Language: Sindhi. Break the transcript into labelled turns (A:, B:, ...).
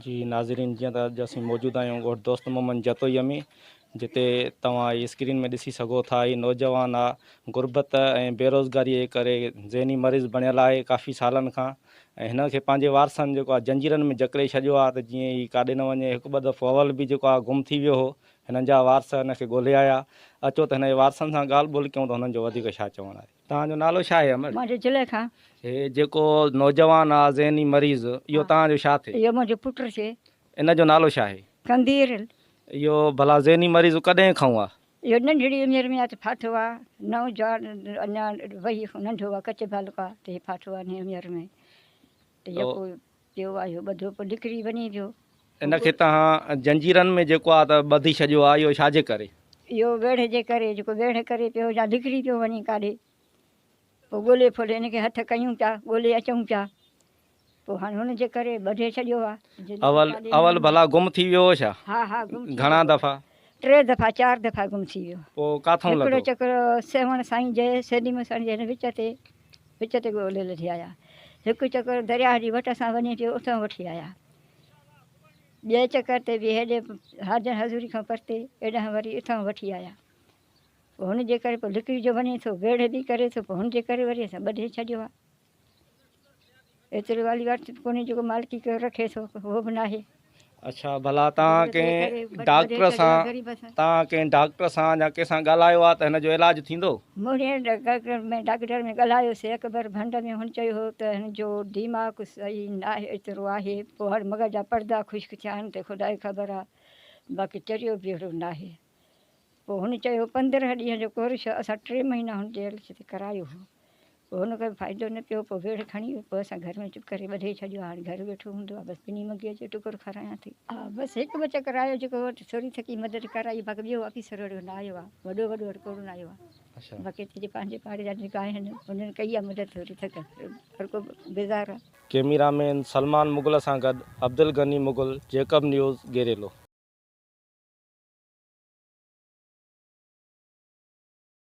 A: جي ناظرين جيئن ته اڄ اسين موجود آهيون ڳوٺ دوست محمد جتوئي ۾ جتي توهان هي اسڪرين ۾ ڏسي سگهو ٿا هي نوجوان آ غربت ۽ بيروزگاري جي ڪري ذهني مريض بڻيل آهي ڪافي سالن کان ۽ هن کي پنهنجي وارثن جيڪو آ جنجيرن ۾ جڪڙي ڇڏيو آ ته جيئن هي ڪاڏي نه وڃي هڪ ٻه دفعو اول به جيڪو آ گم ٿي ويو هو هنن جا وارث هن کي ڳولي آيا اچو ته هن جي وارثن سان ڳالهه ٻولهه ڪيون ته هنن جو وڌيڪ ڇا چوڻ آهي. توهان جو نالو ڇا آهي امڙ؟ مان جو زليخا.
B: هي جيڪو
A: نوجوان آ ذهني مريض اهو توهان جو ڇا ٿئي؟ اهو منهنجو پٽ ٿئي.
B: ان جو نالو ڇا
A: آهي؟ قندير. اهو ڀلا ذهني مريض ڪڏهن کئون آ؟ اهو ننڍڙي عمر
B: ۾ آ ته ڦاٿو آ. نوجوان اڃا ويهي کان ننڍو آ ڪچي بالڪ آ ته هي ڦاٿو آ ننڍي عمر ۾. ته يڪو پيو آهي اهو ٻڌو پوء نڪري وڃي پيو. ان کي توهان
A: زنجيرن ۾ جيڪو آهي ته ٻڌي ڇڏيو آهي اهو ڇاجي ڪري؟ اهو ويڙهه جي
B: ڪري جيڪو ويڙهه ڪري پيو يا نڪري پيو وڃي ڪاڏي پوء ڳولي ڦولي ان کي هٿ ڪيون پيا ڳولي اچون پيا پوء هاڻي ان جي ڪري ٻڌي ڇڏيو آهي. اول اول ڀلا
A: گم ٿي ويو هو ڇا؟ ها ها گم ٿي ويو هو. گهڻا
B: دفعا؟ ٽي
A: دفعا چار
B: دفعا گم ٿي ويو. پوء ڪاٿئون لڌو؟ هڪڙو
A: چڪر
B: سيوهڻ
A: سائين
B: جي سيني مسڻ جي هن وچ تي وچ تي ڳولهي لڌي آيا. هڪ چڪر درياهه جي وٽ سان وڃي ٽيو اتئون وٺي آيا. ٻئي چڪر تي به هيڏي حاجن حضوري کان پرتي ايڏانهن وري اتئون وٺي آيا. پوء هن جي ڪري پوء لڪري جو وڃي ٿو ويڙهه به ڪري ٿو پوء هن جي ڪري وري اسان ٻڌي ڇڏيو آ. ايتري والي واري چت ڪونهي جيڪو مالڪي ڪيو رکي ٿو هو به ناهي اچھا ڀلا
A: تان ڪي ڊاڪٽر سان تان ڪي ڊاڪٽر سان يا ڪي سان ڳالهايو آ ته هن جو علاج ٿيندو مونهي ڊاڪٽر
B: ۾ ڊاڪٽر ۾ ڳالهايو سي اڪبر ڀنڊ ۾ هن چيو هو ته هن جو ديماڪ سهي ناهي ايترو آهي پوهر مغل جا پردا خشڪ ٿيا آهن ته خدا کي خبر آ باقي چريو به هيڙو ناهي پو هن چيو 15 ڏينهن جو ڪورس اسان 3 مهينا هن جي هيلٿ تي ڪرايو هو پوء هن ڪوئي فائدو نه پيو، پوء ويڙهه کڻي پوء اسان گهر ۾ چپ ڪري ٻڌي ڇڏيو، هاڻي گهر ويٺو هوندو آ، بس ٻنهي مگيء جو ٽڪر کارايان ٿي. آء بس هڪ ٻه چڪر آيو، جيڪو وٽ ٿوري ٿڪي مدد ڪرائي، باقي ٻيو آفيسر اهڙو نه آيو آ، وڏو وڏو اهڙو ڪوڙو نه آيو آ، باقي اتي جي پنهنجي پاڙي جا جيڪي آهن، انهن ڪئي آ مدد ٿوري ٿڪ هر ڪو بيزار آ.
A: ڪيميرا مين سلمان مغل سان گڏ عبدالغني مغل،
B: جيڪب
A: نيوز، گيريلو.